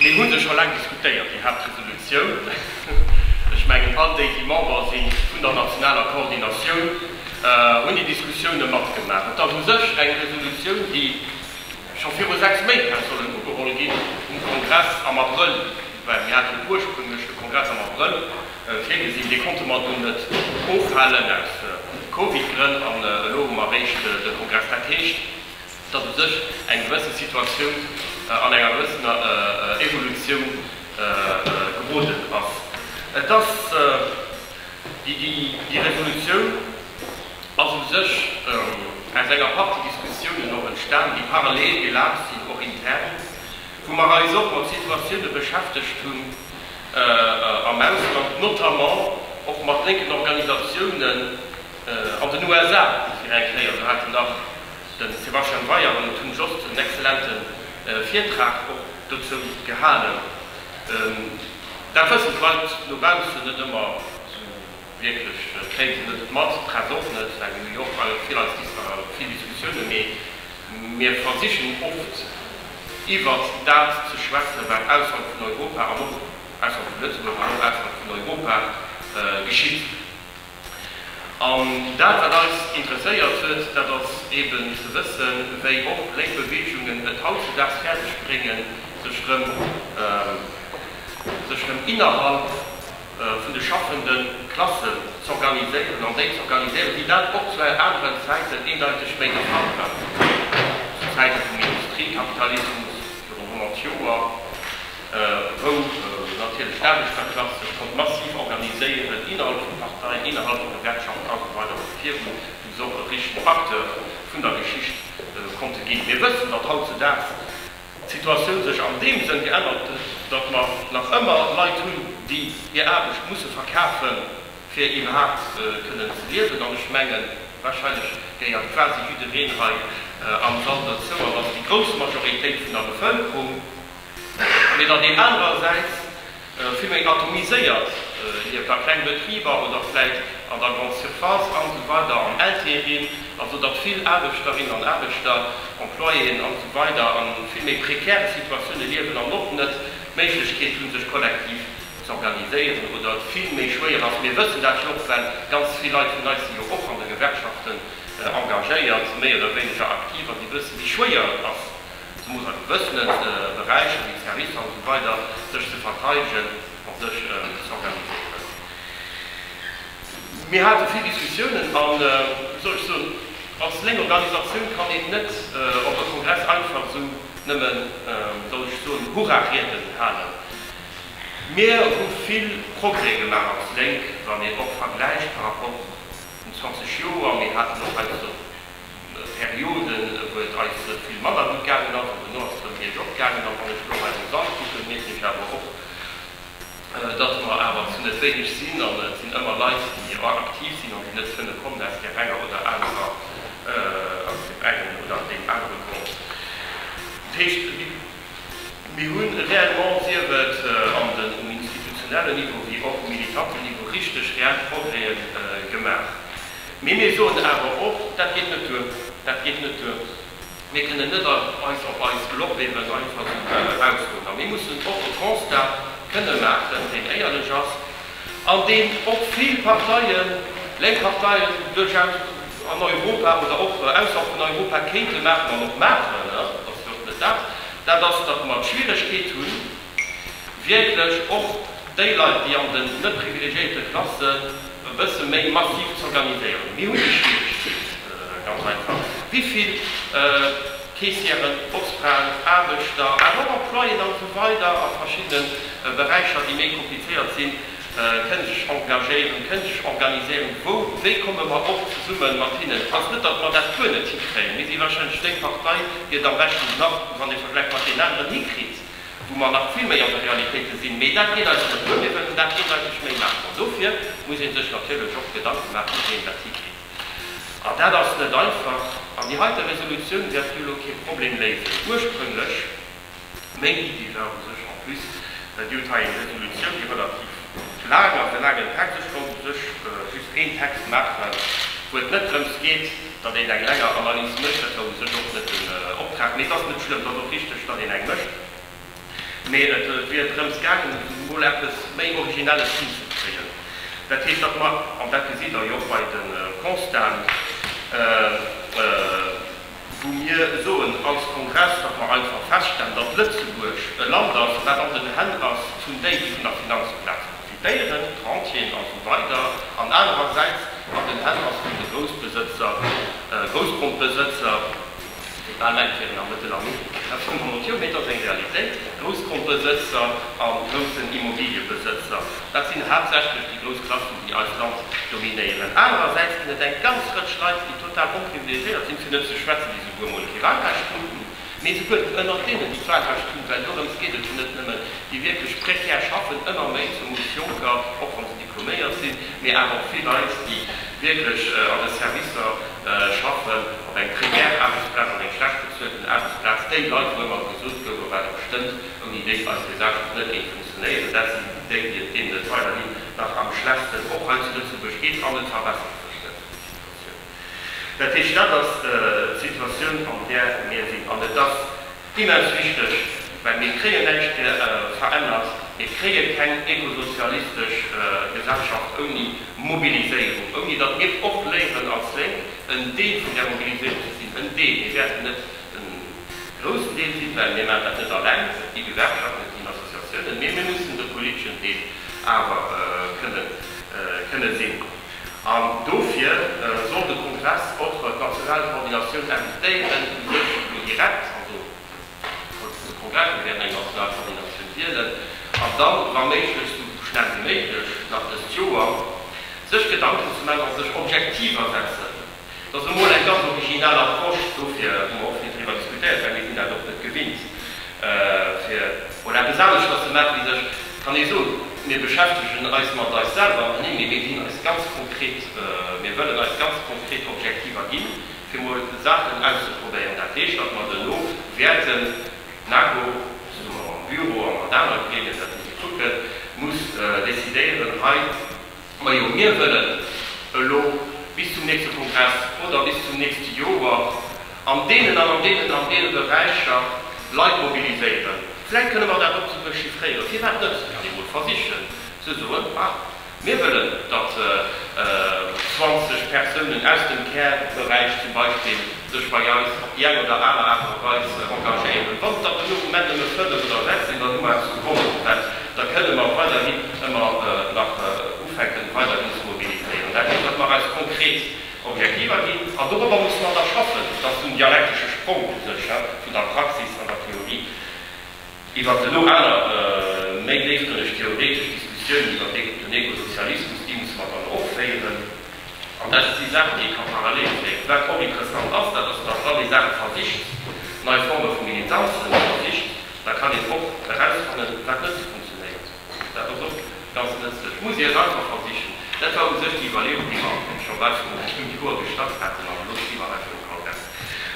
Mir hu se scho laang diskutéiert, déi Haaptresolutioun. Ech mengen, all déi, déi Member si vun der nationaler Koordinatioun, hunn déi Diskussioune matgemaach. Et ass u sech eng Resolutioun, déi scho viru sechs Méint hätt sollen ugeholl ginn um Kongress am Abrëll, well mir haten ursprünglech de Kongress am Abrëll virgesinn. Dee konnte mer dunn net ofhalen aus Covid-Grënn an elo hu mer eréischt de Kongress. Dat heescht, Et ass u sech eng gewësse Situatioun an enger gewëssener Evolutioun geroden ass. Et ass déi Revolutioun ass u sech aus enger Partie Diskussiounen och entstan, déi parallel gelaf sinn, och intern, wou mer eis och mat Situatioune beschäftegt hunn am Ausland, notamment och mat lénken Organisatiounen an den USA, fir eng Kéier. Do hate nach. Den Sebastian Weier an den Tun Jost en excellenten Virtrag och dozou gehalen. Dat wëssen d'Leit no baussen net ëmmer sou wierklech, kréien se net mat, d'Press och net, well mir hu jo och vill eis vill Diskussiounen, mee mir versichen oft iwwert dat ze schwätzen, wat ausserhalb vun Europa an och ausserhalb vun Lëtzebuerg an och ausserhalb vun Europa geschitt. An dat, wat eis interesséiert huet, dat ass eeben ze wëssen, wéi och lénk Beweegungen et hautzedaags fäerdeg bréngen, sech rëm, sech rëm innerhalb vun de schaffende Klassen z'organiséieren an déi z'organiséieren, déi dat och zu aneren Zäiten eendeiteg méi der Fall waren, zu Zäite vum Industriekapitalismus virun 100 Joer. wou natierlech d'Aarbechterklass sech konnt massiv organiséieren, innerhalb vu Parteien, innerhalb vu Gewerkschaften a sou weider, wou virun deem se och e richtegen Acteur vun der Geschicht konnte ginn. Mir wëssen, datt hautzedaags d'Situatioun sech an deem Sënn geännert huet, datt mer nach ëmmer Leit hunn, déi hir Aarbecht musse verkafen, fir iwwerhaapt kënnen ze liewen. An ech mengen, warscheinlech gehéiert quasi jiddereen hei am Sall dozou, an ass déi grouss Majoritéit vun der Bevëlkerung. mee datt een anerersäits vill méi atomiséiert lieft, a kleng Betriber oder vläicht an der Grande Surface an esou weider an Ltd. Also datt vill Aarbechterinnen an Aarbechter, Employéen an esou weider a vill méi prekäre Situatioune liewen an och net d'Méiglechkeet hunn, sech kollektiv z'organiséieren oder et vill méi schwéier ass. Mir wëssen dat jo och, well ganz vill Leit vun eis si jo och an de Gewerkschaften engagéiert, méi oder wéineger aktiv, a si wëssen, wéi schwéier et ass, Se muss also wëssen, et Beräicher wéi d'Servicer an esou weider, sech ze verteidegen a sech z'organiséieren. Mir hate vill Diskussiounen a wéi soll ech soen, als lénk Organisatioun kann een net op e Kongress einfach esou nëmmen, wéi soll ech soen, Hurra-Rieden halen. Mir hu vill Progrès gemaach als Lénk, wann een och vergläicht par rapport un 20 Joer. Mir haten och hei bis op Perioden, wou et eis vill manner gutt gaangen ass, an duerno ass et erëm biergop gaangen. A wann ech elo hei esou dran kucken, mierken ech awer och, dass mer awer zu net wéineg sinn. An et sinn ëmmer Leit, déi aktiv sinn an déi net kënne kommen, aus där enger oder anerer, aus deem engen oder deem anere Grond. Dat heescht, Mir hunn reellement, sief et an den, um institutionellen Niveau wéi och um militanten Niveau, richteg reell Progrèse gemaach. Mee mir soen awer och, Dat geet net duer, dat geet net duer. Mir kënnen net eis op eis Lorbeeren einfach esou ausruen, a mir mussen och e Constat kënnen maachen, deen éierlech ass, an deem och vill Parteien, lénk Parteien, duerchaus an Europa oder och ausserhalb vun Europa kéinte maachen an och maachen, dat ass jo och net dat, dat ass, datt mer d'Schwieregkeet hunn, wierklech och déi Leit, déi an den net privilegiéierte Klassen, e bësse méi massiv z'organiséieren. Mir hunn déi Schwieregkeet ganz einfach, wéi vill. Keessieren, Posfraen, Aarbechter, awer och Employéen an esou weider a verschiddene Beräicher, déi méi komplizéiert sinn, kënne sech engagéieren, kënne sech organiséieren. Wou, wéi komme mer och zesumme mat hinnen? Et ass net, datt mer dat guer net hikréien. Mir si warscheinlech déi Partei, déi et am beschten nach, wann ee vergläicht mat deenen aneren, hikritt, wou mer nach vill méi an de Realitéite sinn. Mee dat geet eis net duer. Mir wëllen dat eendeiteg méi maachen. An dofir muss ee sech natierlech och Gedanke maachen, wéi een dat hikritt. An dat ass net einfach. An déi heite Resolutioun wäert jo elo kee Problem léisen. Ursprünglech, meng Iddi war u sech en plus, well Dir hutt hei eng Resolutioun, déi relativ laang ass, e laangen Text, ech wollt u sech just een Text maachen, wou et net drëms geet, datt een eng länger Analys mécht, dat war u sech och net den Optrag, mee et ass net schlëmm, et ass och richteg, datt een eng mécht. Mee et wier drëms gaangen, emol eppes méi Originelles hinzekréien. Dat heescht, datt mer, an dat gesitt Der jo och bei de Constaten, wou mir soen als Kongress, datt mer einfach feststellen, datt Lëtzebuerg e Land ass, wat an den Hänn ass vun déi, déi vun der Finanzplaz profitéieren, d'Rentieren a sou weider, an anerersäits an den Hänn ass vun de Groussbesëtzer, Groussgrondbesëtzer. Déi bal Leit wieren a Mëttelamerika dat schonn honnert Joer, mee et ass eng Realitéit. Groussgrondbesëtzer a groussen Immobiliëbesëtzer, dat sinn haaptsächlech déi grouss Klassen, déi eist Land dominéieren. Anerersäits ginn et eng ganz Rëtsch Leit, déi total onprivilegiéiert sinn, fir net ze schwätzen, déi souguer emol kee Walrecht kruten, mee souguer ënnert deenen, déi d'Walrecht hunn, well dorëms geet et jo net nëmmen, déi wierklech prekär schaffen, ëmmer méi, zumools Jonker, och wann se diploméiert sinn, mee awer och vill Leit, déi wierklech an de Servicer schaffen. Ob eng prekär Aarbechtsplaz an eng schlecht bezuelten Aarbechtsplaz, déi Leit, wou ëmmer gesot gouf, a wat et bestëmmt, ouni déi eis Gesellschaft net géing funktionéieren, dat si déi, déi et deenen et weiderhin nach am schlechtsten och hei zu Lëtzebuerg geet, an et verbessert sech net, déi Situatioun. Dat heescht, dat ass d'Situatioun, an där mir sinn. An et ass Immens wichteg, well mir kréien näischt verännert, mir kréie keng ekosozialistesch Gesellschaft ouni Mobiliséierung, ouni datt mir och léieren als Lénk en Deel vun där Mobiliséierung ze sinn, en Deel, mir wäerten net de groussen Deel sinn, well mir maachen dat net alleng, et gi Gewerkschaften, et ginn Associatiounen, mee mir mussen de politeschen Deel awer kënne sinn. An dofir soll de Kongress och d'national Koordinatioun invitéieren, fir sech elo direkt, also wou de Kongress elo wäert eng national Koordinatioun wielen, an da wa méiglech esou schnell wéi méiglech nach dëst Joer, sech Gedanken ze maachen a sech Objektiver setzen. Et ass emol eng ganz originell Approche dofir, wou mer och vill driwwer diskutéiert hunn, mee sinn dat och net gewinnt, fir emol eppes aneschters ze maachen, wéi sech, et kann ee soen, mir beschäftegen eis mat eis selwer, ma nee, mee mir ginn eis ganz konkret, mir wëllen eis ganz konkret Objektiver ginn, fir emol Saachen auszeprobéieren. Dat heescht, datt mer duerno wäerten, d'NAGO zesumme mam Büro a mat anere Gremien, dat muss ee kucken, muss decidéieren hei, Majo, mir wëllen elo bis zum nächste Kongress oder bis zum nächste Joer an deenen an an deenen an deene Beräicher Leit mobiliséieren. Vläicht kënne mer dat och esou dechiffréieren. Firwat net dat emol versichen ze soen, ma mir wëllen, datt 20 Persounen aus dem Care-Beräich zum Beispill, sech bei eis op déi eng oder aner Aart a Weis engagéieren. Wann et der fir de Moment nëmme fënnef oder sechs sinn, dann hu mer eppes vu Wonne verpasst. Da kënne mer weiderhin ëmmer nach ufänken, weiderhin ze mobiliséieren. Dat heescht, datt mer eis konkret Objektiver ginn, an dorobber musse mer da schaffen, datt den dialektesche Sprong u sech vun der Praxis an der Theorie, Iwwer elo aner, méi déifgrënneg theoretesch Diskussiounen iwwer dee gudden Ekosozialismus, déi musse mer dann och féieren. An dat si Saachen, déi ee ka parallel féieren. Wat och interessant ass, dat ass, datt wann ee Saache versicht, nei Forme vu Militanzen versicht, da kann een och erausfannen, wat net esou funktionéiert. Dat ass och ganz nëtzlech. Et muss ee et einfach versichen. Dat war u sech déi Iwwerleeung, déi mer scho bal viru ronn fënnf Joer gestart haten, an elo sti mer einfach um Kongress.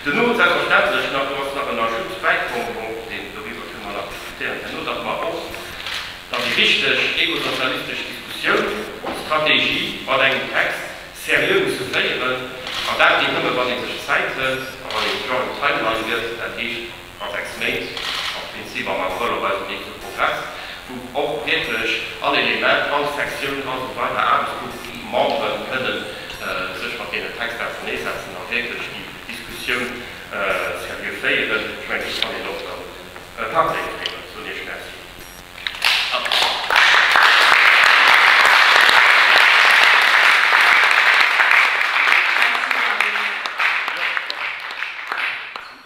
Duerno huet selbstverständlech nach, do ass nach en Ajout bäikomm, bon, deen, doriwwer kënne mer nach diskutéieren herno, datt mer och dann déi richteg ekosozialistesch Diskussioun, Strategie mat engem Text seriö musse féieren, an dat geet nëmme, wann ee sech Zäit hëlt a wann ee Strong Timeline gëtt, dat heescht, Mat 6 Méint, am Prinzip am Abrëll, op eisem nächste Progress, wou och wierklech all Element, all Sektioun, all esou weider Aarbechtsgrupp, déi Memberen kënnen sech mat deenen Texter auserneesetzen a wierklech déi Diskussioun seriö féieren. Ech mengen, do kann een och dann e Pak lénk bréngen. Ech soen Iech Merci.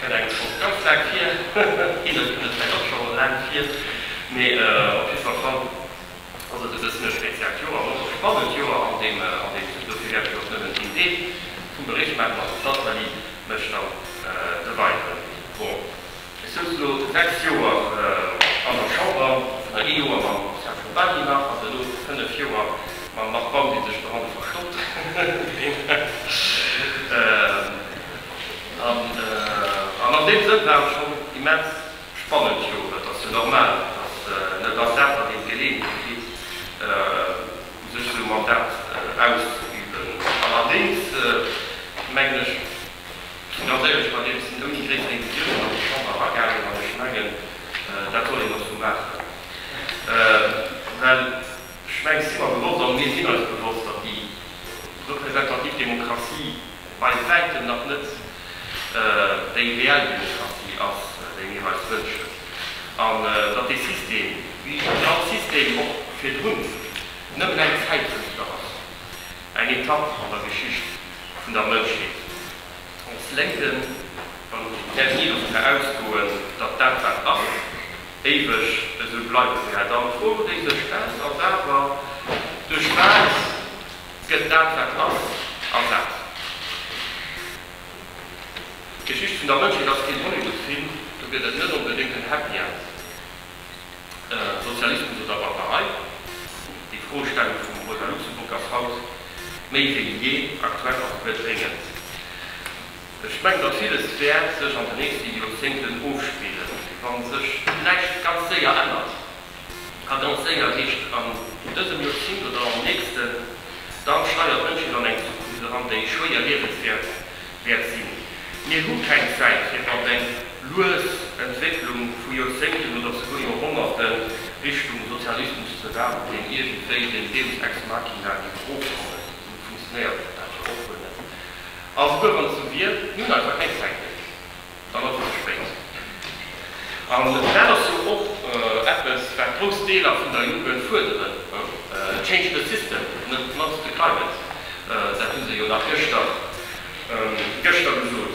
Kënnt engem schonns ganz laang vir, hinne kënnt et vläicht och scho laang vir, mee op jidde Fall fannt ass et e bëssen e speziellt Joer, an och e spannend Joer, an deem, an deem, dofir wäert ech och nëmmen een Deel vum Bericht maachen, an dem d'Nathalie mech dann e weideren Wort. Ech souz elo sechs Joer an der Chamber, vun der ee Joer mam Serge Babin nach, an duerno fënnef Joer mam Marc Baum, dee sech doranner verstoppt, wien weess. An an deem Sënn war et schonn immens spannend. Jo, et ass jo normal, datt net all Dag dann een d'Geleeënheet kritt, sech esou mam Dart auszeüben. Allerdéngs mengen ech, ganz éierlech, bei deem sinn ouni gréisser Illusiounen an déi Chamber eragaangen. An ech mengen, dat soll een och esou maachen, well. Ech mengen, et si mer bewosst an mir sinn eis bewosst, datt déi representativ Demokratie bei wäitem nach net déi reell Demokratie ass, déi mir eis wënschen, an datt dee System, wéi déi all System och virdrun, nëmmen eng Zäitdrifter ass, eng Etapp an der Geschicht vun der Mënschheet. Ons Lénken, wann ech den Här Guy dofir ausgoen, datt dat dat ass, Éiweg esou bleiwe se ja dann. D'Froen déi sech stellt ass awer, Duerch wat gëtt dat wat ass ersat? D'Geschicht vun der Mënschheet ass keen Hollywood-Film, do gëtt et net onbedéngt en Happy End. Sozialismus oder Barbarei? Déi Froestellung vum Rosa Luxemburg ass haut méi wéi jee aktuell a komplett dréngend. Ech mengen datt villes wäert sech an de nächste Joerzéngten ofspillen, wann sech näischt ganz séier ännert. A ganz séier heescht an dësem Joerzéngt oder am nächsten. Dann steiert d'Mënschheet an eng Zukunft eran, déi schwéier liewenswäert wäert sinn. Mir hu keng Zäit fir an eng lues Entwécklung vu Joerzéngten oder souguer Joerhonnerte Richtung Sozialismus ze waarden, deen iergendwéi den Deus ex machina géif ofkommen. Esou funktionéiert dat dann jo och wuel net. A souguer wann s du wier nun einfach keng Zäit méi hues, dann ass et ze spéit. An dat ass jo och eppes, wat grouss Deeler vun der Jugend fuerderen, Change the system, net not the climate. Dat hu se jo nach gëschter gesot.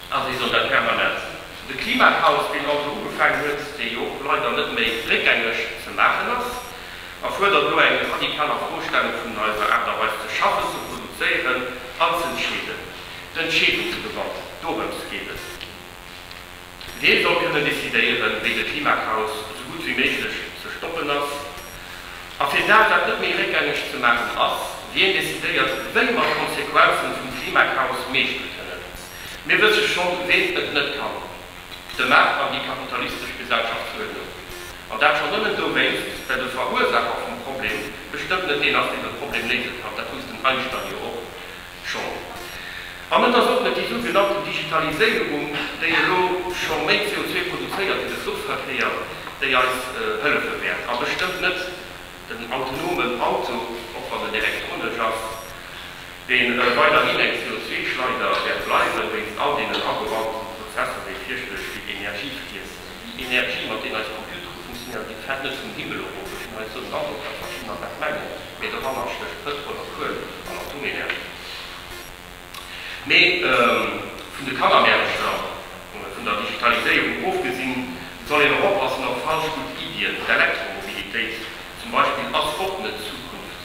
A si soll dat permanent sinn. De Klimachaos, deen also ugefaangen huet, dee jo leider net méi réckgängeg ze maachen ass, erfuerdert elo eng radikal Afrostellung vun eiser Aart a Weis ze schaffen, ze produzéieren an z'entscheeden. D'Entscheedungsgewalt, dorëms geet et. Wien soll kënnen decidéieren, wéi de Klimachaos esou gutt wéi méiglech ze stoppen ass? A fir dat dat net méi réckgängeg ze maachen ass, wien decidéiert, wéi mer d'Konsequenzen vum Klimakaos meeschtele kënnen? Mir wësse schonn, ween et net kann, de Maart an déi kapitalistesch Gesellschaftsuerdnung. An dat schonn nëmmen dowéinst, well de Verursaacher vum Problem bestëmmt net deen ass, deen de Problem léise kann. Dat wosst den Einstein jo och. schonn. An et ass och net déi sou genannten Digitaliséierung, déi elo scho méi CO2 produzéiert wéi de Fluchverkéier, déi eis hëllefe wäert, a bestëmmt net den autonomen Auto, och wann en elektronesch ass, dee weiderhin eng CO2-Schleider wäert bleiwen, wéinst all deenen agebauten Prozesser, déi fierchterlech vill Energie friessen. Energie mat deem eis Computere funktionéieren, déi fält net vum Himmel erof. Ech hunn hei esou en Handdrock, datt mer schonn nach wat mengen, mee doranner stécht Pëtrol a Kuel an Atomenergie. Mee vun de Kannermäermcher, vun der Digitaliséierung ofgesinn, soll een och oppassen op falsch gutt Iddien. D'Elektromobilitéit zum Beispill ass och net d'Zukunft,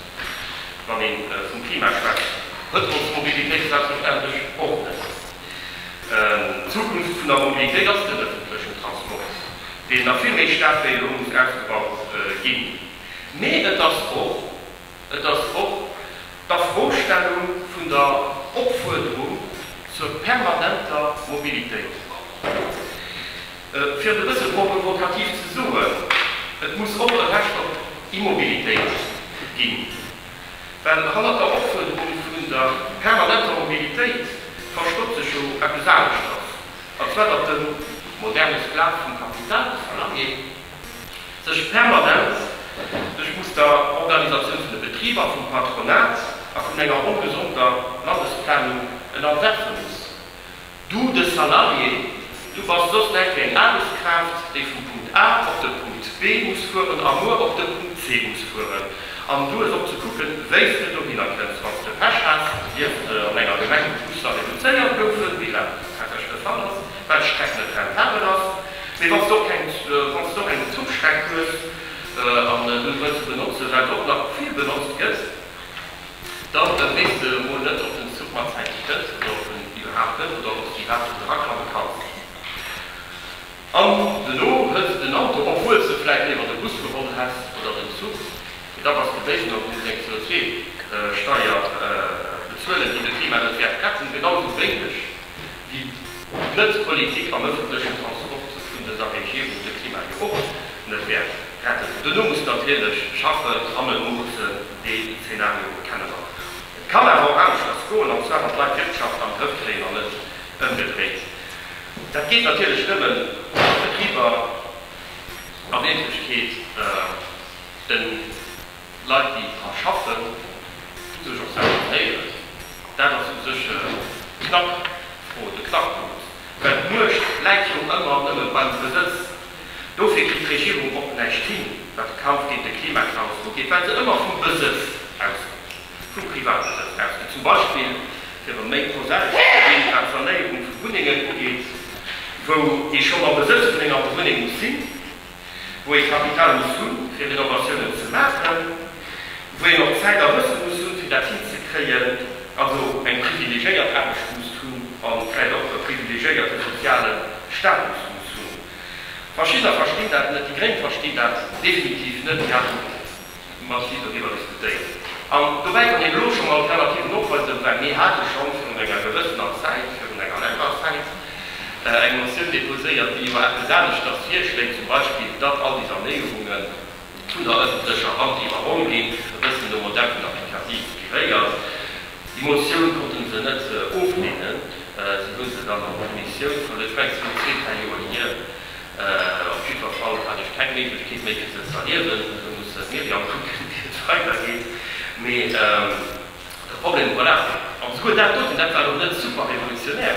wann ee vum Klima schwätzt. Pëtrolsmobilitéit schwätzt verständlech och net. D'Zukunft vun der Mobilitéit ass den ëffentlechen Transport, deen nach vill méi staark wéi elo muss ausgebaut ginn. Mee et ass och, et ass och d'Afrostellung vun der Opfuerderung zur permanenter Mobilitéit. Fir et e bësse provokativ ze soen, Et muss och e Recht op Immobilitéit ginn. Well hannert der Offuerderung vun der permanenter Mobilitéit verstoppt sech jo eppes aneschters, an zwar datt de moderne Sklav vum Kapital, de Salarié, sech permanent duerch muss der Organisatioun vun de Betriber, vum Patronat a vun enger ongesonder Landesplanung ennerwerfe muss. Du, de Salarié, du bass soss net wéi eng Aarbechtskraaft, déi vum Punkt A op de Punkt B muss fueren a muer op de Punkt C muss fueren. An du hues och ze kucken, wéi s de dohinner kënns. Wann s de Pech has, dierfs de an enger Gemeng wou d'Busser reduzéiert goufen, wéi grad zu Kerkech de Fall ass, well d'Streck net rentabel ass, mee wann s d'och keng, wann s d'och eng Zuchstreck hues an du s wëlls benotzen, well se och nach vill benotzt gëtt, Dann wéinst de emol net op den Zuch matzäiteg kënns, oder op en iwwerhaapt net, oder ob s de iwwerhaapt net eraklammen kanns. An dono hëls de den Auto, obwuel s de vläit léiwer de Bus geholl häss, oder den Zuch, mee da bass de béiwen an muss eng CO2-Steier bezuelen, déi de Klima net wäert retten, genau esou wéineg wéi d'Net-Politik am ëffentlechen Transport vun dëser Regierung de Klima jo och net wäert retten. Dono muss natierlech schaffen, Trammen, Muressen, dee Zeenario kenne mer. Et kann awer och aneschters goen, an zwar datt d'Leit d'Wirtschaft an Grëff kréien an net ëmgedréit. Dat geet natierlech nëmmen, wa d'Betriber a Wierklechkeet de Leit, déi dra schaffen, u sech och selwer benéieren. Dat ass u sech d'Knackfro, de Knackpunkt, well d'Muecht läit jo ëmmer nëmme beim Besëtz. Dofir kritt d'Regierung och näischt hin, wat de Kampf géint de Klimachaos ugeet, well se ëmmer vum Besëtz ausgeet, vum Privatbesëtz ausgeet, zum Beispill, fir erëm méi prosaesch ze ginn, wat d'Sanéierung vu Wunnengen ugeet, wou ee schonn am Besëtz vun enger Wunneng muss sinn, wou ee Kapital muss hu fir Renovatiounen ze maachen, wou een och Zäit a Wësse muss hunn, fir dat hinzekréien, also eng privilegéiert Aarbecht musst hunn an vläicht och e privilegéierte soziale Status muss hunn. D'Faschista verstinn dat net, déi Gréng verstinn dat definitiv net, déi haten massiv doriwwer diskutéiert. An dobäi kann een elo scho mol relativ novollzéien, well mir hate scho virun enger gewëssener Zäit, virun enger längerer Zäit, eng Motioun deposéiert, déi jo eppes aneschters virschléit, zum Beispill, datt all déi Sanéierungen, Vun der ëffentlecher Hand iwwerholl ginn, e bëssen nom Modell vun der Pécati inspiréiert. Déi Motioun konnte se net ofleenen. Si hu se dann an d'Kommissioun verluer. Ech mengen, et war zwee, dräi Joer hier. Op jiddwer Fall hat ech keng Méiglechkeet méi, fir se ze erliewen. Elo muss se d'Myriam kucken, wéi et weidergeet. Mee de Problem, voilà. An esouguer dat doten, dat war elo net super revolutionär.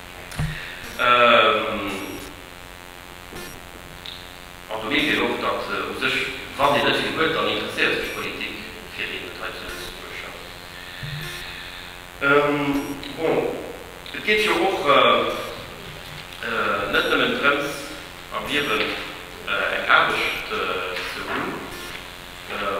An do mierkt een och, datt u sech, wann een net vill huet, dann interesséiert sech d'Politik fir een net hei zu Lëtzebuerg. Bon, et geet jo och net nëmmen drëms am Liewen eng Aarbecht ze hunn.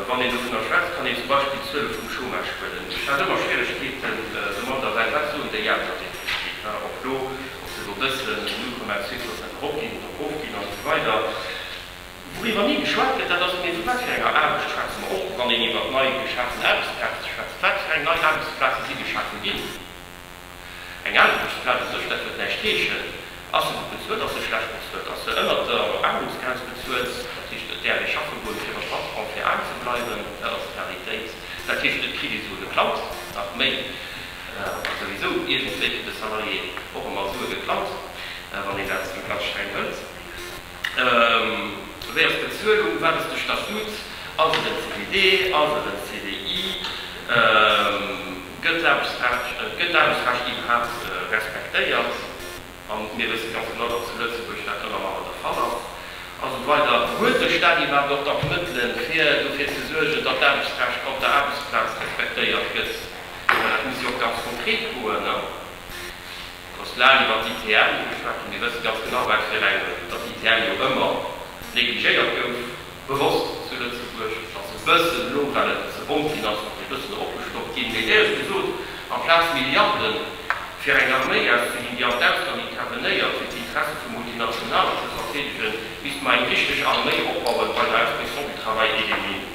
Wann een dovunner schwätzt, kann een zum Beispill d'Zuele vum Chômage huelen. Ech hat ëmmer Schwieregkeeten domat, a well dat soen déi aner definitiv nach, och elo, ob se elo wëssen, 0,2 Prozent eropginn oder erofginn a sou weider. Wouriwwer ni geschwat gëtt, dat ass, mee vu wat fir enger Aarbecht schwätze mer, och wann een iwwert nei geschafen Aarbechtsplaze schwätzt, wat fir eng nei Aarbechtsplaze si geschafe ginn? Eng Aarbechtsplaz u sech, dat huet näischt heeschen. Ass se gutt bezuelt, ass se schlecht bezuelt, ass se ënnert der Aarmutsgrenz bezuelt, dat heescht et däerf ee schaffe goen, fir e Patron, fir aarm ze bleiwen, dat ass d'Realitéit. Dat heescht, et kritt ee Sue geklaut, nach méi, a souwisou iergendwéi fir de Salarié och emol Sue geklaut, wann een dat ganz streng hëlt. Wéi ass d'Bezuelung? Wat ass de Statut? Ass et en CDD? Ass et en CDI? Gëtt d'Aarbechtsrecht iwwerhaapt respektéiert? A mir wësse ganz genau, datt zu Lëtzebuerg dat ëmmer manner de Fall ass. A sou weider Huet de Staat iwwerhaapt och da d'Mëttele fir dofir ze suergen, datt d'Aarbechtsrecht op der Aarbechtsplaz respektéiert gëtt? Well dat muss jo och ganz konkret goen. Et ass laang iwwer d'ITM geschwat ginn. Dir wësst ganz genau, wat fir eng, datt d'ITM jo ëmmer negligéiert gouf, bewosst zu Lëtzebuerg. Et ass e bëssen, elo well et ze bomm ginn ass, ass e bëssen eropgestockt ginn. Mee éier ech gesot, amplaz Milliarde fir eng Arméi auszeginn, déi an d'Ausland intervenéiert, fir d'Interesse vu Multinationale ze verteedegen, misste mer eng richteg Arméi opbauen bei der Inspection du Travail et des Mines.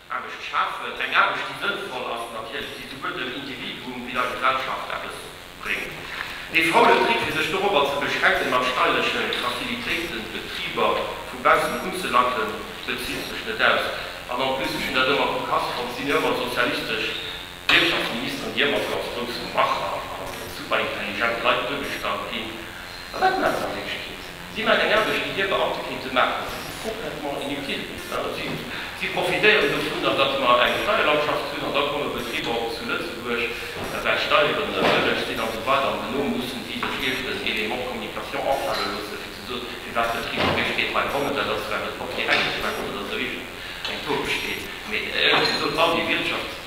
Aarbecht schafen. Eng Aarbecht, déi sënnvoll ass natierlech, déi souguer dem Individuum wéi der Gesellschaft eppes bréngt. Ee faulen Trick, fir sech dorobber ze beschränken, mat steierleche Facilitéiten d'Betriber vu baussen unzelacken, bezitt sech net aus. An en plus, ech hunn dat ëmmer vu Kass fonnt, sinn jo ëmmer sozialistesch Wirtschaftsministeren, déi ëmmer sou als grouss Macher a super intelligent Leit duergestallt ginn. Mä wat maachen an deem Stied? Si maachen eng Aarbecht, déi hir Beamte kéinte maachen. Si si complètement inutiles, dat ass just. Si profitéieren dovunner, datt mer eng Steierlandschaft hunn, an da komme Betriber och zu Lëtzebuerg, well Steieren bëlleg sinn a sou weider, an dono musse si sech iergend en Element de communication afale loosse fir ze soen, firwat d'Betriber méi spéit hei kommen. Dat ass zwar net portier-enkelt, mä kommen ass e richteg eng Tour-Geschicht. Mee ehrlech gesot, all déi Wirtschafts-,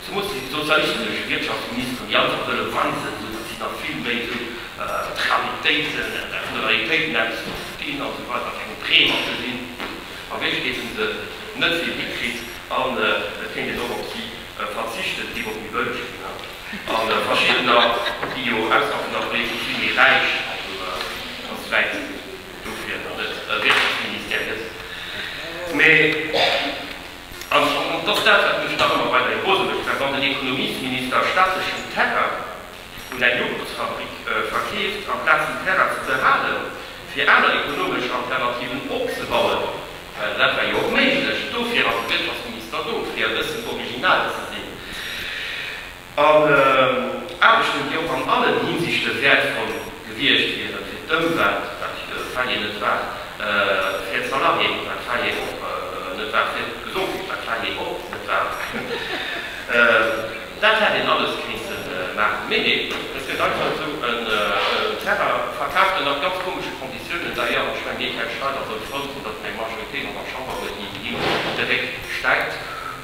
Zemools déi sozialistesch Wirtschaftsministeren, déi einfach wëlle weisen, esou datt si da vill méi esou d'Realitéite vun de Realitéiten eppes verstinn a sou weider, keng Drehmatten sinn, a Wierklechkeet hu se net vill hikritt an et kéint een och op si verzichten, et géif och méi bëlleg ginn. A verschiddener, déi jo ausser vun der Politik vill méi räich an esou wäit dofir et e Wirtschaftsministère gëtt, mee. An et ass dat, wat mech nach ëmmer weiderhi groselig fennt, wann den Ekonomiesminister staatlechen Terrain un eng Joghurtsfabrik verkeeft, amplaz den Terrain ze behalen, fir aner ekonomesch Alternativen opzebauen, well dat war jo och méiglech. Dofir ass de Wirtschaftsminister do, fir e bëssen original ze sinn. an Aarbechten, déi och an allen Hinsichte wäertvoll gewiescht wieren, fir d'Ëmwelt, wat jo de Faye net war, fir d'Salariéen, wat d'Faye och net war, fir d'Gesondheet, wat d'Faye och net war. Dat hätt een alles kéinte maachen. Mee neen, et gëtt einfach esou en Terrain verkaaft, ënner ganz komesche Konditiounen d'ailleurs. Ech mengen, dee Tel Schneider sollt frou sinn, datt seng Majoritéit an der Chamber huet, déi him de Réck stäipt.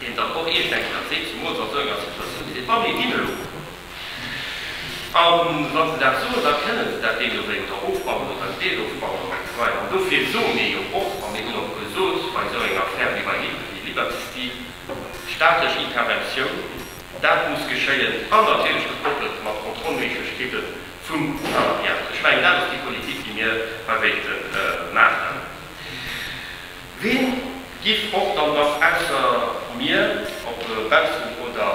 deen dann och, ech denken, dat seet zumools an esou enger Situatioun, déi de Panier ginn elo, a wa se dat soen, da kënne se dat deemno wéi oder ofbannen oder en Deel ofbannen oder gesäien. An dofir soe mir jo och, a mir hunn och gesot bei esou enger Affär wéi bei Liberty Steel, staatlech Interventioun, dat muss geschéien, an natierlech gekoppelt mat Kontrollméiglechkeete vum Salariat. Ech mengen, dat ass déi Politik, déi mir hei wéilten maachen. Ween giff och dann nach ausser mir, ob baussen oder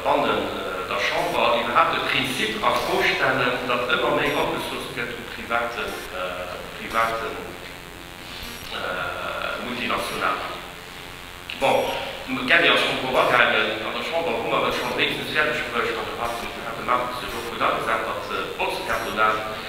bannen der Chamber, iwwerhaapt e Prinzip a Fro stellen, datt ëmmer méi opgesoust gëtt u private Multinationalen? Bon, de Gary ass schonn drop agaangen. An der Chamber hu mer et schonn, wéinstens fäerdeg bruecht, an de Markus huet sech och gutt agesat, datt d'Botzkartonage,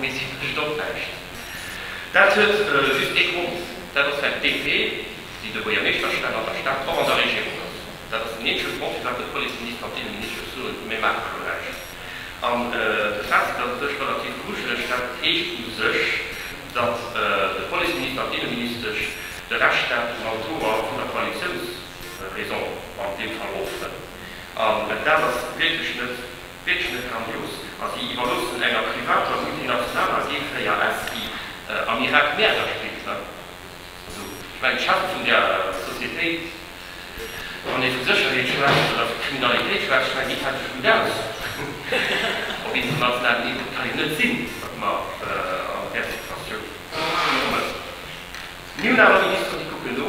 Mee si fleegt och näischt. Dat huet just ee Grond, dat ass well d'DP, déi de Buergermeeschter stellt, an der Stad och an der Regierung ass. Dat ass den eenzege Grond firwat de Policeminister an d'Inneministesch soen, mir maache do näischt. An de Fazit ass u sech relativ grujeleg, dat heescht u sech, datt de Policeminister an d'Inneministesch de Rescht dat um Altoer vun der Koalitiounsraison an deem Fall opfrënn. An dat ass wierklech net. Wierklech net grandios. A si iwwerloossen enger privater multinationaler Geelfléier S, déi am Irak Mäerder spillt, ne? Also, ech mengen, d'Charte vun där Sociétéit, wann ee vu Sécherheet schwätzt oder vu Kriminalitéit schwätzt, schwäiss ee praktesch gutt aus op internationalem Niveau. Et ka jo net sinn, datt mer an där Situatioun kommen. Mir hunn awer Ministeren, déi kucken no.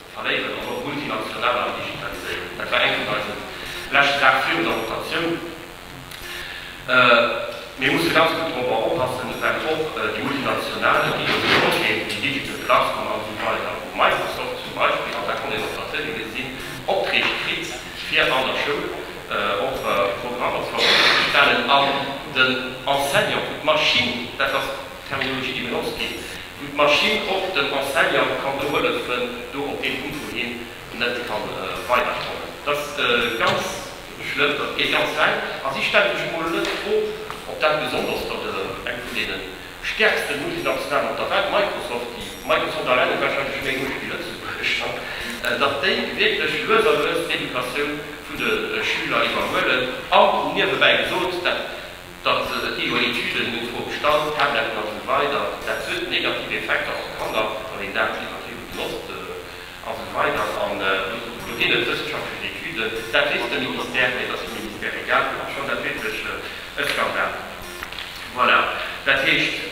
Verléieren an och multinationaler an digitaliséieren. Dat war eng vun eisen leschten Saachen virun der Rotatioun. Mir musse ganz gutt dorobber oppassen, well och déi multinationalen, déi elo gesot ginn, déi Digital Platform an esou weider, wou Microsoft zum Beispill, an dat konnt een op der Tëlee gesinn, Opträg kritt fir an der Schoul och Programmer zur Verfügung ze stellen an den Enseignanten, d'Maschinn, dat ass d'Terminologie déi benotzt ginn, wou d'Maschinn och dem Enseignant kann do hëllefen, do op dee Punkt, wou hien net ka weiderkommen. Dat ass ganz schlëmm, dat geet ganz wäit. A si stellen sech emol net d'Fro, ob dat besonnesch datt eng vun deene stäerkste Multinationalen op der Welt, Microsoft, déi Microsoft alleng huet warscheinlech méi Muecht wéi Lëtzebuerger, datt déi wierklech lues a lues d'Educatioun vun de Schüler iwwerhuelen. An niewebäi gesot, dat. Datt se net genug Etüden hunn zum Obstand, Tabletten an esou weider, dat huet negativ Effekter op d'Kanner, wann een dat iwwerdriwwe benotzt an esou weider. An do ginn et wëssenschaftlech Etüden, dat weess de Ministère, mä et ass dem Ministère egal. Ech fann dat wierklech e Skandal. Voilà, dat heescht.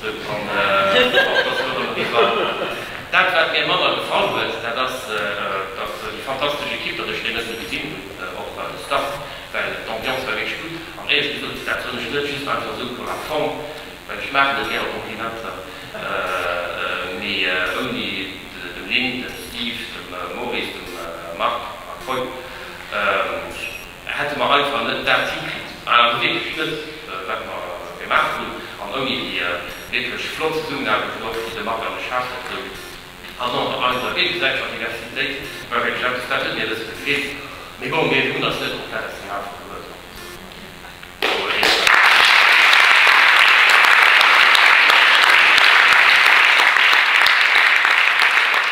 Sou kann och der Flora Marie Wagner. Dat wat mir manner gefall huet, dat ass dass déi fantastesch Equipe, dass ech déi net gesinn hunn op der Distanz, well d'Ambiance war wierklech gutt. An éier ech gesot, dat soll ech net just einfach sou pour la forme, well ech maachen net gäre Komplimenter, mee ouni dem Lynn, dem Steve, dem Maurice, dem Marc a Pol. hätte mer einfach net dat hikritt, awer hu wierklech net, wat mer gemaach hunn, an ouni déi wierklech flott Zesummenaarbecht vun och fir de Marc an de Charles, dat gouf an och an eiser géigesäiteger Diversitéit, war wierklech eppes, dat huet mir e bësse gefeelt. Mee bon, mir hunn eis net komplett aus den Ae verluer, do huet ee Recht.